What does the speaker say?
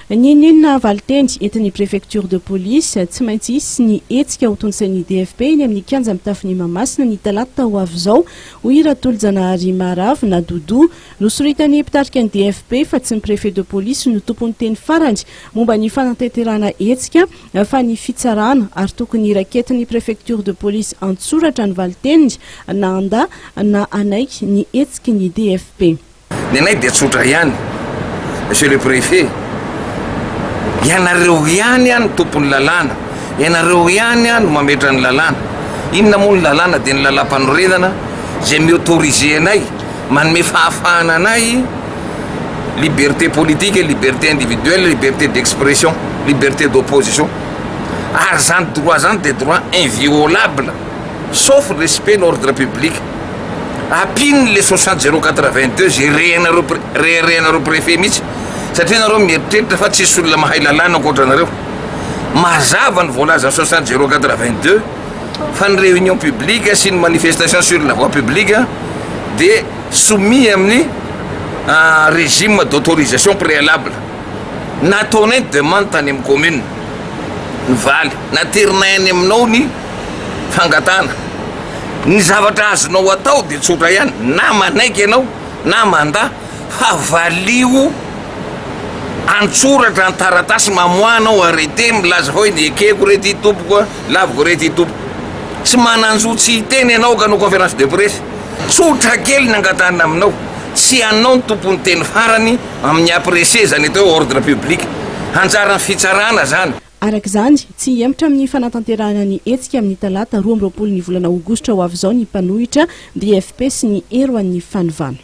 N'inon'inona valinteny entin'ny préfecture de police, tsy maintsy hisy ny hetsika hotontosain'ny DFP eny amin'ny kianja mitafon'i Mahamasina ny talata ho avy izao, hoy i Ratolojanahary Maharavona Doudou. Nosoritan'ny mpitarika ny DFP fa tsy ny préfet de police no tompon'ny teny farany momba ny fanatanterahana hetsika fa ny fitsarana ary tokony raiketin'ny préfecture de police an-tsoratra ny valiteniny na handà na hanaiky ny hetsiky ny DFP. Ny anay dia tsotra ihany, Monsieur le Préfet, ianareo ihany no tompon'ny lalàna, ianareo ihany no mametra ny lalàna. Inona moa ny lalàna dia ny lalàmpanorenana izay mi-autoriser anay, manome fahafahana anay liberté politique, liberté individuelle, liberté d'expression, liberté d'opposition. Ary izany droit izany dia droit inviolable. Sauf ny respect ny ordre public. Ampino ny le soixante zero quatre vingt deux ze rehanareo reharehanareo prefet mihitsy satria nareo mieritreritra fa tsisy olona mahay lalàna ankoatra nareo. Mazava ny voalazan'ny soixante zero quatre vingt deux fa ny reunion publique sy ny manifestation sur la voie publique de soumis amin'ny régime d'autorisation préalable. Nataonay ny demande tany amin'ny commune. Nivaly. Naterinay any aminao ny. fangatahana. Ny zavatra azonao atao dia tsotra ihany, na manaiky ianao na mandà fa valio an-tsoratra an-taratasy mamoahanao arrêté milaza hoe ny ekeko re ty tompoko a, laviko re ty tompoko. Tsy manan-jo tsy hiteny ianao ka hanao conférence de presse. Tsotra kely ny angatahana aminao, tsy ianao no tompon'ny teny farany amin'ny apprécier izany atao hoe ordre public. Anjaran'ny fitsarana izany. Araka izany, tsy hihemotra amin'ny fanatanterahana ny hetsika amin'ny talata roa amby roapolo ny volana aogositra ho avy izao ny mpanohitra DFP sy ny hero an'ny fanovana.